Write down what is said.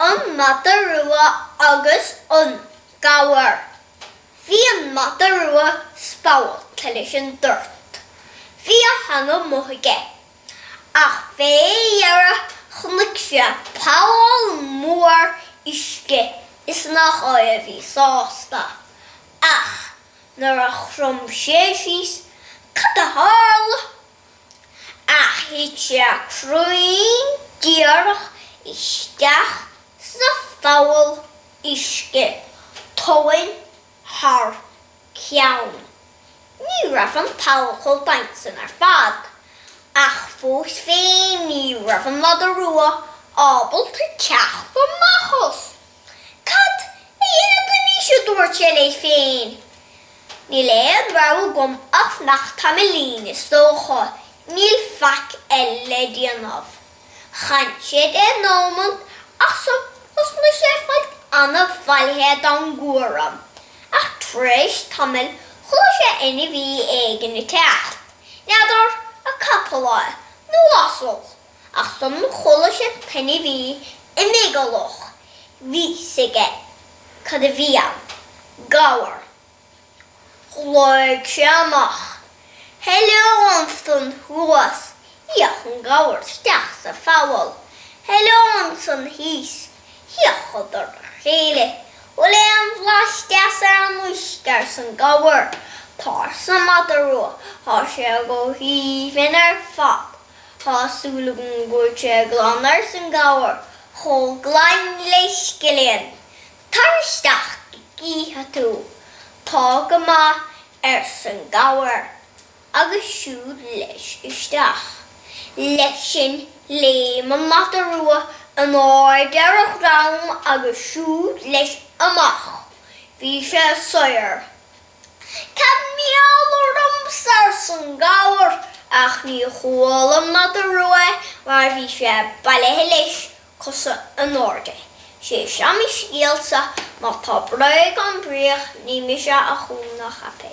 an mada rua agus an gabhar. Bhí an mada rua spallta leis an dtart. Bhí a theanga amuigh aige. Ach fé dheireadh chonaic sé poll mór uisce is nach é a bhí sásta. Ach nuair a chrom sé síos, cad a tharla? ach thit sé cruinn díreach isteach sa pholl uisce tóin thar ceann. Ní raibh an poll chomh doimhin sin ar fad, ach fós féin ní raibh an Mada Rua ábalta teacht amach as. Cad a dhéanfad anois, a dúirt sé leis féin. Níl aon rogha agam ach fanacht tamaillín, is dócha, níl faic eile le déanamh. D'fhan sé deich nómant, ach thosnaigh sé ag fáilt an-bhailithe den gcúram, ach tar éis tamaill chuala sé ainmhí éigin ag teacht, n'fheadar, an capall é, nó asal, ach ansan chuala sé pé ainmhí é ag meigeallach, bhí 'fhios aige cad a bhí ann, gabhar. Ghlaoigh sé amach, Heileo ansan thuas! D'fhéach an gabhar isteach sa pholl. Heileo ansan thíos! D'fhéachadar ar a chéile. Bhfuil aon bhlas deas ar an uisce? arsan gabhar. Tá arsa an madadh rua, tá sé go haoibhinn ar fad. Tá súil agam go bhfuil sé glan ars an gabhar, chomh glan le scilling. Tar isteach go gcífidh tú. Tá go maith, ars an gabhar, agus siúd leis isteach. Leis sin léim an mada rua in airde ar a dhrom agus siúd leis amach. Bhí sé saor. Cad mar gheall ormsa, arsa an gabhar, ach ní chuala an madadh rua mar bhí sé bailithe leis, cosa in airde. Sé seo mo scéalsa, má tá bréag ann bíodh, ní mise a chum ná a cheap é.